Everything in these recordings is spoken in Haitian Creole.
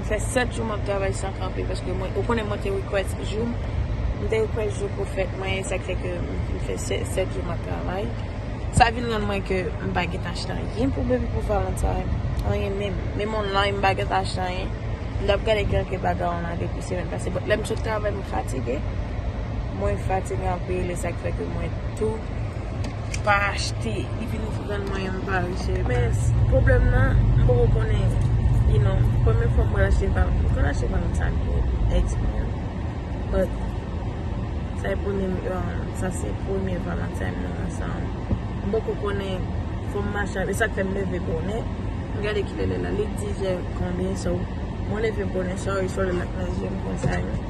M fè 7 jou map travay san kanpe paske mwen ou konnen mwen te request jou m te request jou pou fèt mwen e sak fè ke m fè 7 jou map travay sa vin rann mwen ke m pa gentan achte anyen pou baby pou valentine anyen menm menm online m pa gentan achte anyen m tap gade kelke bagay online depi semèn pase but lèm sot travay m fatige mwen fatige anpil e sak fè ke mwen tou. pa achte li vin ouvri grann mwen yon pa achte men problem nan m poko konnen you know premye fwa m pral achte m pa m konn achte m pa konn sa m ye expire but sa e premye sa se premye valentine nou ansanm m poko konnen fò m mache avèl e sak fè m leve bonè m gade kilè lè la li 10 è konbyen so mwen leve bonè so e sòl la nan je m konsa.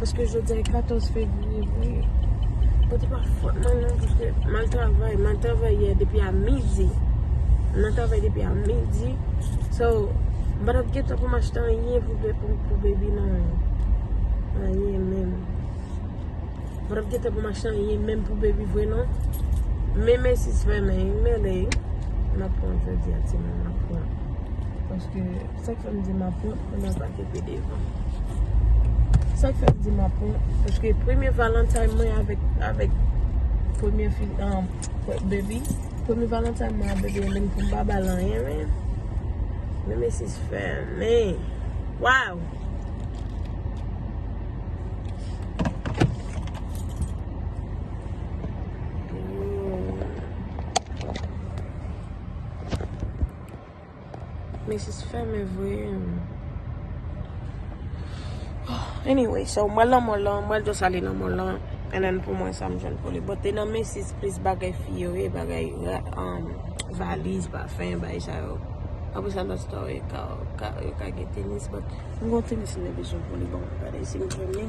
Paske jodi an 14 fevriye vwe. Pote pa fote man nan. Paske man travay. Man travay yè depi a midi. Man travay depi a midi. So, ban ap geta pou m achte an yen pou bebi nan. An yen men. Mwen ap gentan pou m achte anyen menm pou baby vre non. Men Macy's fèmen wi, m mele wi. M ap pran jodi a timoun, m ap pran. Paske sa k fè m di m ap pran, m nan pa te pede avan. Sa k fè m di m ap pran, paske premye valentine mwen avèk, avèk premye fi, an, baby, premye valentine mwen avèk baby menm pou m pa ba l anyen men. Men Macy's fèmen. Waww! Men jis fè men vwe. Anyway, so mwen lan mwen lan, mwen jous ale lan mwen lan. En an pou mwen sa mwen jous ale. Bote nan men jis plis bagay fiyo e bagay valiz ba. Fèyen bay sa yo. Apre sa lòt store yo ka yo ka yo ka gen tenis but m gon tenis m te bezwen pou li bon gade si m jwenn li.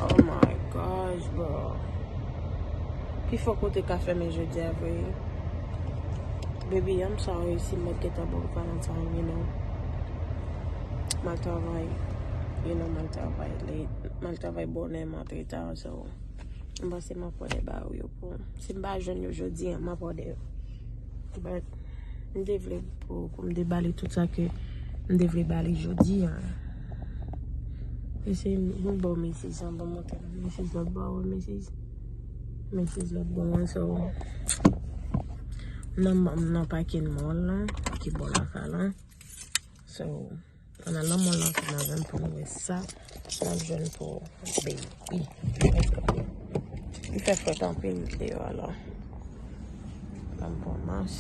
Oh my gosh bro. Pi fò kote ka fèmen jodi a vre. Baby I'm sorry si m mèt gentan baw valentine you know. Mal travay you know mal travay late mal travay bonè m antre ta so m pase m ap wè lè ba ou yo. Bon, si m pa jwenn yo jodi an, m ap òdè yo. But, m te vle pou m te ba li tout sa ke m te vle ba li jodi an. Mesi, m ba w mesi san pou montre m. Mesi lòt bò a, mesi. Mesi lòt bò a, so. Nan m nan pake nan mòl la, ki bò la ka la. So. An nan lanmò lan se nan vèm pou nou wè sa nan jwenn pou ou baby. Li fè fwèt anpil deyò alò. Lanm pou mas.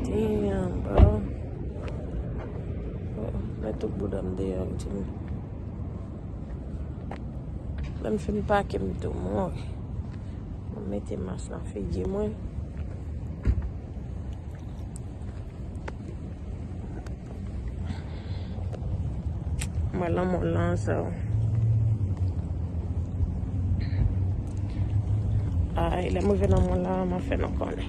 Damn bro. Mwen tout boudam deyò mtimi. Lè m fin pake m tou mouri. M mete mas nan figi mwen. Mwen lanmò lan sa w. Ay, lè m rive lanmò lan, m ap fè nou konnen.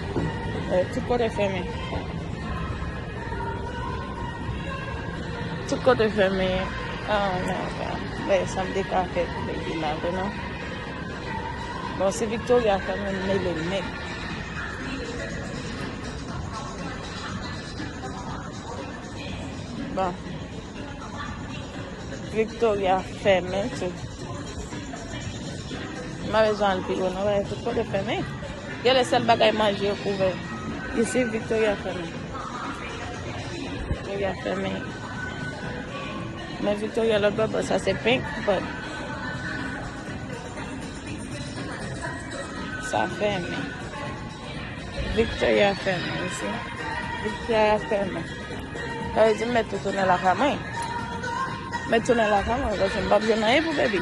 Tout kote fèmen. Tout kote fèmen. Ah, nan, nan. Mè, sa m deka fè pou mè di la, vè nan. Bon, se Victoria fèmen mè le mè. Bon. Victoria fèmen, tout. Mè le zan pi, wè nan, wè, tout kote fèmen. Genlè sèl bagay manje yo k ouvè isi Victoria fèmen Victoria fèmen Men Victoria lòt bò bò sa se pink but Sa fèmen Victoria fèmen isi Victoria fèmen Sa vle di m mèt tou tounen lakay mwen M mèt tounen lakay mwen paske m pap jwenn anyen pou baby.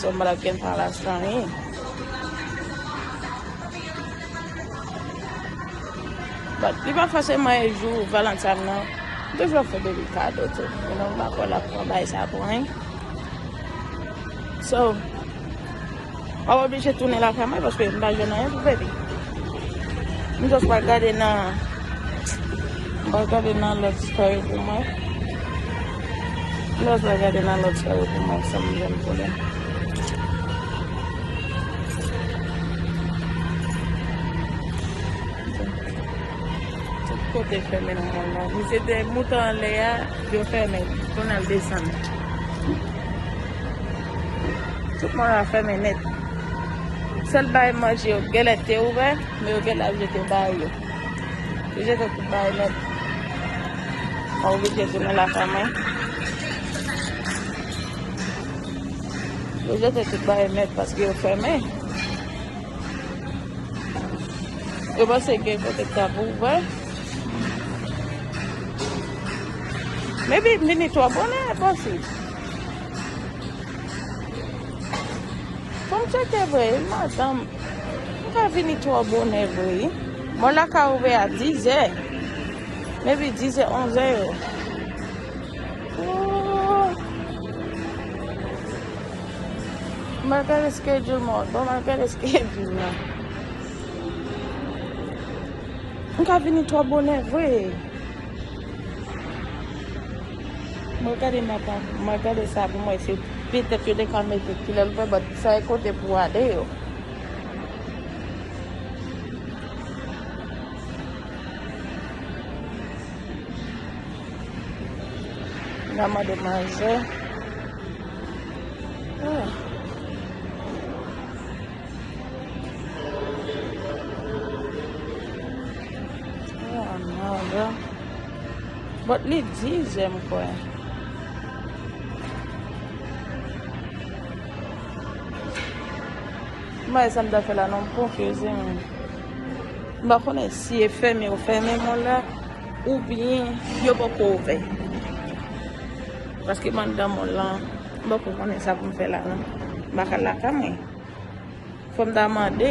Sou mwen ap gen palas nan yi. Bat, li pa fòse mwen e jou valantan nan. Dej wap fè bebi kado tou. Yon nan mwen pa kò la pou mwen bay sa pou mwen. So. Map oblije tounen lakay mwen paske m pa jwenn anyen pou bebe. M just pral gade nan m pral gade nan lòt story pou mwen. M just pral gade nan lòt story pou mwen sam jwenn pou li. Tout kote fèmen nan kay la. Misye te moute anlè a, yo fèmen. Kounye a l desann. Tout moun a fèmen nèt. Sèl bay manje yo gèlè te ouvè, men yo gèlè ap jete bay yo. Yo jete tout bay nèt. Mwen oblije tounen lakay mwen. Yo jete tout bay nèt paske yo fèmen. Yo panse gen kote k ap ouvè. Mwen vini twò bonè, e posib. Fò m tcheke vre wi madanm. M ka vini twò bonè vre wi. Mò la ka ouvè a dizè. Maybe dizè onzè yo. Mwen gade schedule mò. Bon mwen gade schedule la. M ka vini twò bonè vre. Mwen gade map ap mwen gade sa pou mwen se petèt yo te ka mete kilè l fè bat sa e kote pou ale yo. Mwen mande manzè. Ah. Ah, manzè. But li di ze m kwè. M pa wè sa m ta fè la non m konfyoze menm. M pa konnen si e fèmen yo fèmen mòl la oubyen yo poko ouvè. Paske m anndan mòl lan m poko konnen sa pou m fè la non. M bak al lakay mwen. Fò m ta mande.